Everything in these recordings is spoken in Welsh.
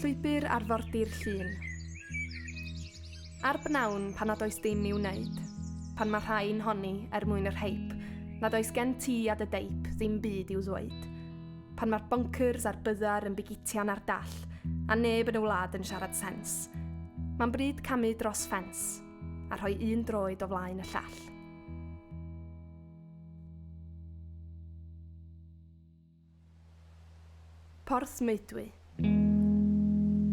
Llwybr arfordir Llŷn. Ar bnawn pan nad oes dim i'w wneud, pan mae rhai'n honni er mwyn yr hype, nad oes gen ti a dy deip ddim byd i'w ddweud, pan mae'r bonkers a'r byddar yn bigitian ar dall, a neb yn y wlad yn siarad sens. Mae'n bryd camu dros ffens, a rhoi un droed o flaen y llall. Porthmeudwy.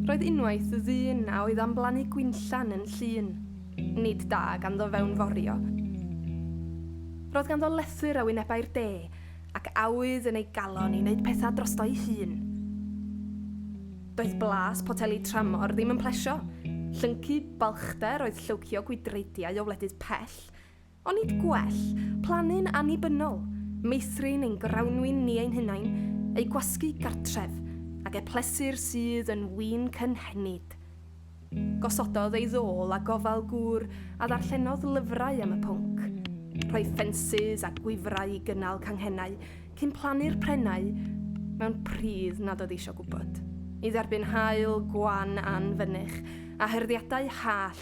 Roedd unwaith ddyn a oedd am blannu gwinllan yn llun. Nid da ganddo fewnforio. Roedd ganddo lethr a wynebau'r de, ac awydd yn ei galon i wneud pethau drosto'i hun. Doedd blas poteli tramor ddim yn plesio. Llyncu balchder oedd llywcio gwydreidiau o wledydd pell, Onid gwell plannu'n annibynnol, meithrin ein grawnwin ni ein hunain, eu gwasgu gartref, ag e plesu'r sydd yn win cynhenid? Gosododd ei ddôl a gofal gŵr a ddarllenodd lyfrau am y pwnc. Rhoi ffensys a gwifrau i gynnal canghennau cyn plannu'r prennau mewn pridd nad oedd eisiau gwybod, i dderbyn haul gwan anfynych a hyrddiadau hallt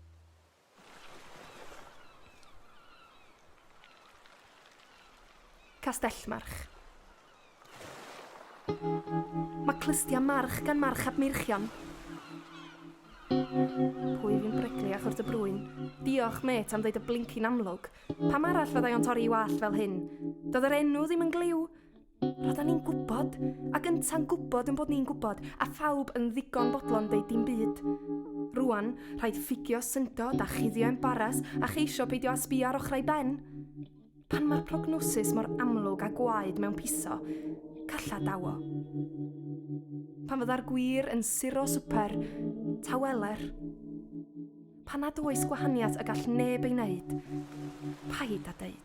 Castellmarch. Mae clystiau march gan March ap Meirchion. Pwy fi'n breglu a chwrt y brwyn? Diolch, mêt, am ddeud y blincin amlwg. Pam arall fyddai o'n torri 'i wallt fel hyn? Doedd yr enw ddim yn glyw. Roedden ni'n gwybod, ac ynta'n gwybod yn bod ni'n gwybod, a phawb yn ddigon bodlon deud dim byd. Rwan, rhaid ffugio syndod a chuddio embaras a cheisio peidio â sbio ar ochrau ben. Pan mae'r prognosis mor amlwg a gwaed mewn piso, calla dawo. Pan fydda'r gwir yn suro swper, taweler. Pan nad oes gwahaniaeth y gall neb ei wneud, paid â deud.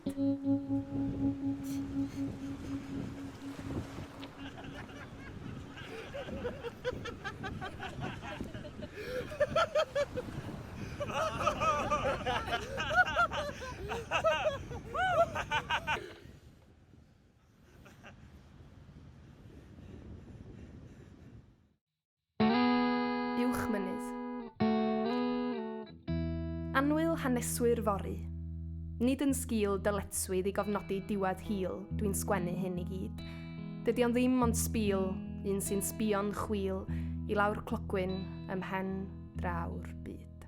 Uwch mynydd. Anwyl haneswyr fori. Nid yn sgil dyletswydd i gofnodi diwedd hil, dwi'n sgwennu hyn i gyd. Dydy o'n ddim ond sbîl, un sy'n sbio'n chwil i lawr clogwyn ymhen draw'r byd.